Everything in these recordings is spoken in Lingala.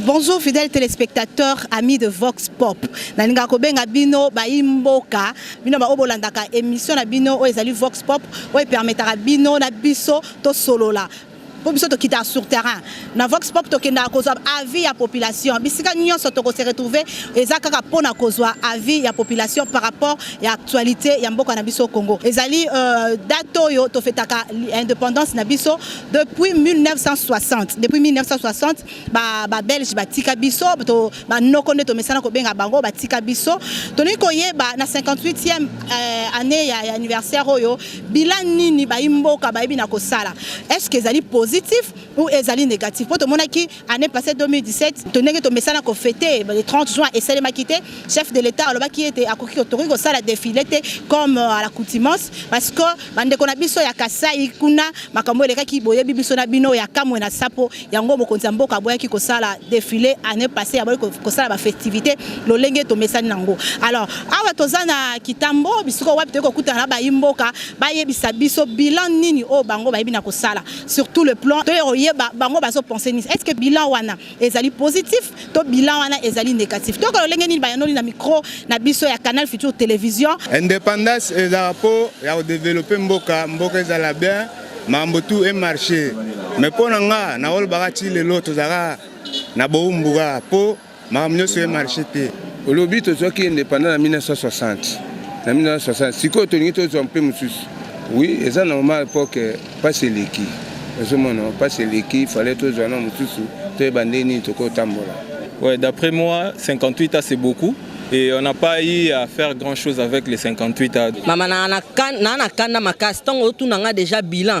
Bonjour fidèles téléspectateurs, amis de Vox Pop. Nalinga kobenga bino baimboka, bino ba obolandaka émission na bino oyo ezali Vox Pop oyo permetaka bino na biso to solola mpo biso tokitaka sur terrain na vox pop tokendaka kozwa avis ya population bisika nyonso tokose retrouve eza kaka mpo na kozwa avis ya population par rapport ya actualité ya mboka na biso congo ezali euh, date oyo tofetaka indépendance na biso Depuis 1960, depuis 1960, ba, ba Belge batika biso, to ba noko nde tomesana kobenga bango batika biso. Toni koyeba na 58e euh, année ya, ya anniversaire oyo bilan nini ba imboka ba na kosala. Est-ce que ezali positif ou ezali négatif? Po tomonaki année passée 2017 tondenge tomesana kofete le 30 juin esalemaki te chef de l'état alobaki ete akoki tokoki kosala défilé te comme euh, à l'accoutumance parce que bandeko na biso ya kasai kuna makambo elekaki boyebi biso na bino ya kamwe na sapo yango mokonzi ya mboka aboyaki kosala défilé année passée aboyi kosala bafestivité lolenge tomesani nango alors awa toza na kitambo bisiko wapi toyei kokutana na bayi mboka bayebisa biso bilan nini oyo bango bayebi na kosala sur tout le plan toye koyeba bango bazopense nini est ce que bilan wana ezali positif to bilan wana ezali négatif toyoka lolenge nini bayanoli na micro na biso ya canal future télévision indépendance ezala mpo ya kodeveloppe mboka mboka ezala bien mambo tout e marché mais mpo na nga naolobaka ti lelo tozalaka na bowumbuka mpo Makambo nyonso e marche te. Olobi tozwaki independant na 1960 na 1960 sikoyo tolingi tozwa mpe mosusu oui eza normal poke mpasi eleki ozomona mpasi eleki fale tozwa na mosusu toyeba nde nini tokotambola ouais d'après moi 58 a c'est beaucoup et on n'a pas eu à faire grand chose avec les 58 ans. Mama na na kanda makasi tango otuna nga déjà bilan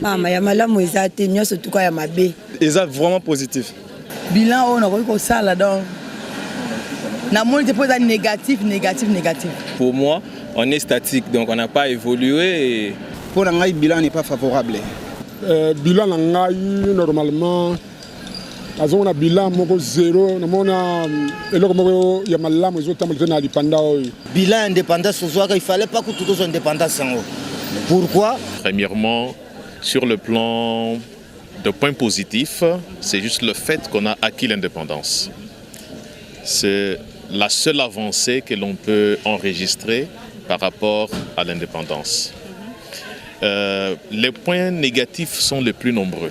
mama ya malamu eza te nyonso tuka ya mabe eza vraiment positif bilan oyo nakoki kosala donc namoni te mpo eza négatif négatif négatif pour moi on est statique donc on n'a pas évolué mpo na ngai bilan n'est pas favorable euh, bilan na ngai normalement nazomona bilan moko zero namona mm, eloko moko ya malamu ezotambola te na lipanda oyo bilan ya indépendance ozwaka il fallait pas kutu tozwa indépendance yango pourquoi premièrement sur le plan de point positif c'est juste le fait qu'on a acquis l'indépendance c'est la seule avancée que l'on peut enregistrer par rapport à l'indépendance euh, les points négatifs sont les plus nombreux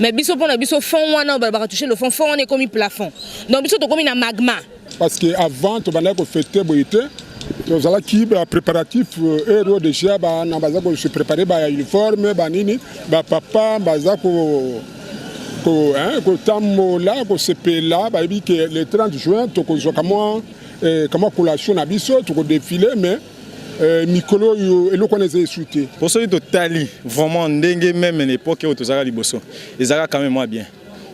mais biso pona biso fond wana oyo balobaka touche le fond fond wana ekomi plafond donc biso tokomi na magma parce que avant tobandaki kofete boye te tozalaki bapréparatif euh, heure oyo déjà bana baza kose prépare bauniforme banini bapapa baza kotambola kosepela bayebi ke le 30 juin tokozwaka mwa eh, kama collation na biso tokodefile mais Euh, mikolo oyo eloko wana eza esu te mpo soki totali vraiment ndenge meme na epoke oyo tozalaka liboso ezalaka kame mwa bien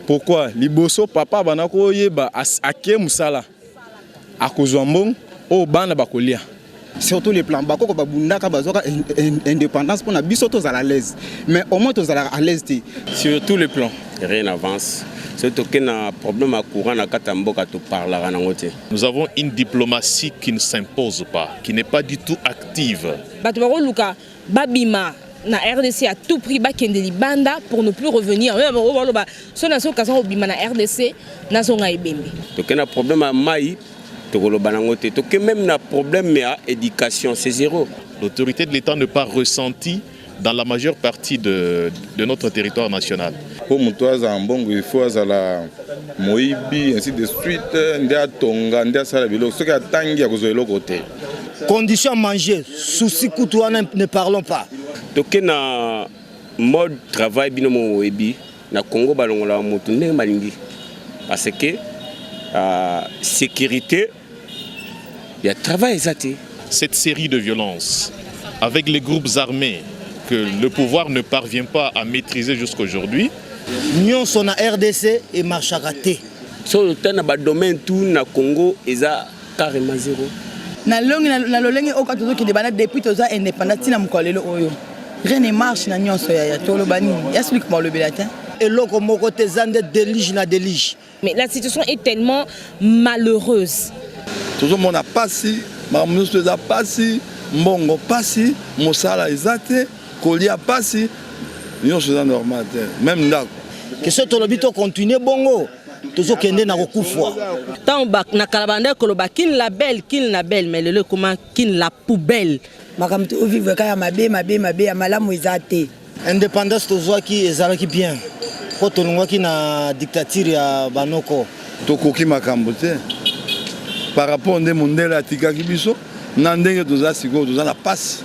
pourquoi liboso papa abanda koyeba ake mosala akozwa mbongo oyo bana bakolia surtout les plans bakoko babundaka bazwaka indépendance mpo na biso tozala alaise mais au moins tozalaka alaise te sur tous les plans rien avance soki tokei na problème ya courant na kati ya mboka toparlaka nango te Nous avons une diplomatie qui ne s'impose pas, qui n'est pas du tout active. Bato bakoluka babima na RDC à tout prix bakende libanda pour ne plus revenir. Même bango baloba so na so kaza obima na RDC nazonga ebembe. Toke na problème ya mai tokoloba nango te. Toke même na problème ya éducation, c'est zéro. L'autorité de l'État ne pas ressentie dans la majeure partie de, de notre territoire national. mpo moto azala mbongo ifo azala moyibi ainsi de suite nde atonga nde asala biloko soki atangi akozwa eloko te condition manger souci kutu wana ne parlons pas toke na mode travail bino mo oyebi na congo balongolaka moto ndenge balingi parce que uh, sécurité ya travail eza te. Cette série de violences avec les groupes armés que le pouvoir ne parvient pas à maîtriser jusqu'aujourd'hui. Nyonso na RDC et marchaka te. So lota na ba domaine tout na Congo eza carrément zéro. Na longi na lolenge oka tozoki de bana depuis toza indépendant tina mokolo lelo oyo. Rien ne marche na nyonso ya ya toloba nini. Ya celui qui m'a le belatin. eloko moko te eza nde delige na delige Mais la situation est tellement malheureuse. tozomona pasi makambo nyonso eza pasi mbongo pasi mosala eza te kolia pasi nyonso eza normal te meme ndako ke soki tolobi tocontinue bongo tozokende na kokufwa ntango na kala bandaki koloba kin la belle kin la belle mais lelo ekoma kin la poubelle makambo tovivre kaka ya mabe mabe mabe ya malamu eza te Independance tozwaki ezalaki bien mpo tolongwaki na dictature ya banoko. Tokoki makambo te par rapport nde mondele atikaki biso na ndenge toza sikoyo toza na pasi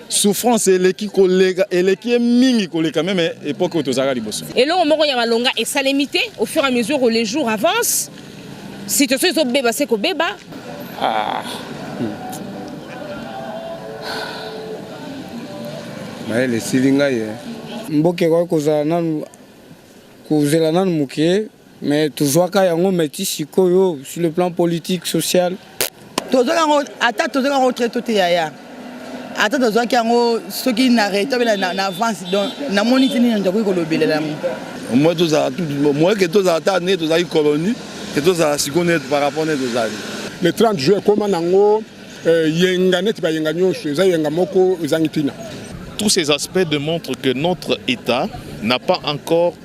souffrance eleki koleka eleki ye mingi koleka meme epoke oyo tozalaka liboso. Eloko moko ya malonga esalemi te au fur et à mesure les jours avancent. situation ezobeba se kobeba ah. Hmm. mayele esili ngai ye eh. mboka ekoki kozala nanu kozela nanu moke mais tozwaka yango meti sikoyo sur le plan politique social tozwaki yango ata tozwaki yango très to te yaya ata tozwaki yango soki na reta bela na avance donc namoni ti nini tokoki kolobelela yango moi tozala moi ke tozala ata ne tozalaki colonie ke tozala sikoyo ne par rapport ne tozali le 30 juin ekoma nango euh, yenga neti bayenga nyonso eza yenga moko ezangi ntina tous ces aspects démontrent que notre état n'a pas encore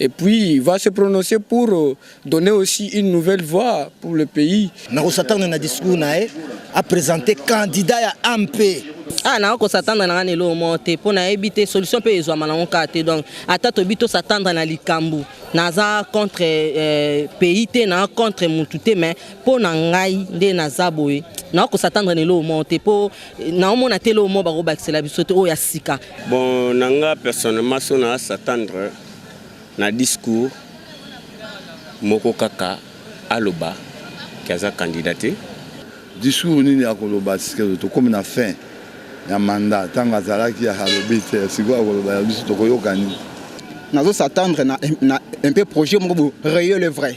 et puis va se prononcer pour euh, donner aussi une nouvelle voix pour le pays. Nakosatana na discours naye a présenter candidat ya AMP. Ah na kosatana na ngana elo mo te mpo nayebi te solution mpe ezwama nango kaka te donc ata tobi tosatanda na likambo naza contre euh, pays te na contre mutu te mais mpo na ngai nde naza boye na kosatanda na elo mo te mpo naomona te loo moko bakobakisela biso te oyo ya sika bon na nga personnellement so na s'attendre na discours moko kaka aloba ke aza kandida te discours nini akoloba sikeyo tokomi na fin ya manda ntango azalaki alobi te sikoyo akoloba ya biso tokoyoka nini nazo s'attendre na, na un peu projet moko bo réel et vrai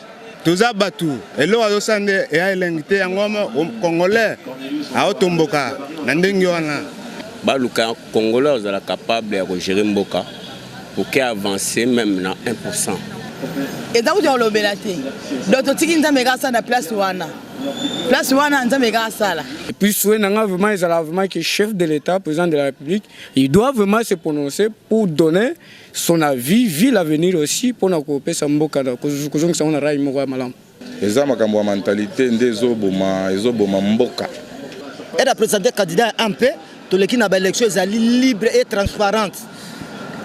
toza batu eloko azosala nde eya elengi te yango congolais aotomboka na ndenge wana baluka congolais ozala capable ya kogere mboka oke avance meme na 1 pourcent eza kutu ya kolobela te donc totiki nzambe kaka asala na place wana place wana nzambe kaka asala epuis souhait na ngai vraiment ezala vraiment ke chef de l'état président de la république il doit vraiment se prononcer pour donner son avis vie l'avenir aussi pona kopesa mboka kozongisa ngo na rail moko ya malamu eza makambo ya mentalite nde ezoboma ezoboma mboka eda presente candidat ya mp toleki na baélection ezali libre et transparente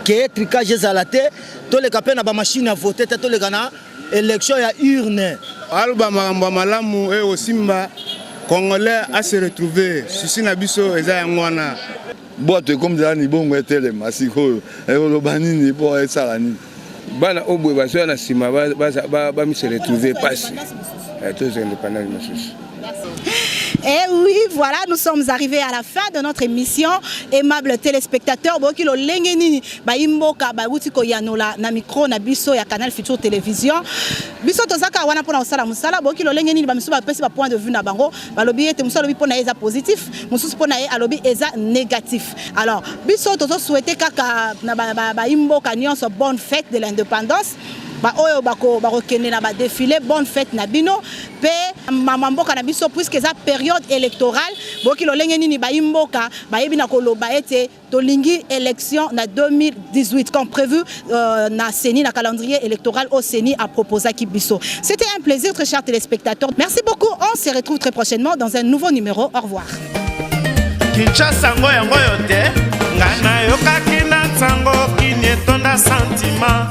keye tricage ezala te toleka mpe na bamashine ya vote te toleka na élection ya urne aloba makambo ya malamu eye osimba congolais ase retrouve susi na biso eza yango wana bwato ekomi zala libongo etelema sikoyo ekoloba nini mpo esala nini bana oyo boye bazoya na nsima bamisi retrouve mpasi eh, tozwa independance mosusu Et eh oui, voilà, nous sommes arrivés à la fin de notre émission. Aimables téléspectateurs, boki lo lenge nini ba imboka ba wuti ko yanola na micro na biso ya Canal Futur Télévision. Biso tozaka wana pona osala musala, boki lo lenge nini ba misu ba pesi ba point de vue na bango. balobi ete mosusu alobi mpo na ye eza positif mosusu mpo na ye alobi eza négatif alors biso tozo souhaite kaka na baimboka ba, ba nyonso bonne fête de l'indépendance baoyo bakokende na badefile bonne fête na bino mpe mama mboka na biso puiske eza periode électorale boyoki lolenge nini bayi mboka bayebi na koloba ete tolingi élection na 2018 comme prévu euh, na CENI na calendrier électoral au CENI a proposé Kibiso. C'était un plaisir très chers téléspectateurs. Merci beaucoup. On se retrouve très prochainement dans un nouveau numéro. Au revoir. Kinshasa ngo yango yo te ngai nayokaki na nsango kini etonda santima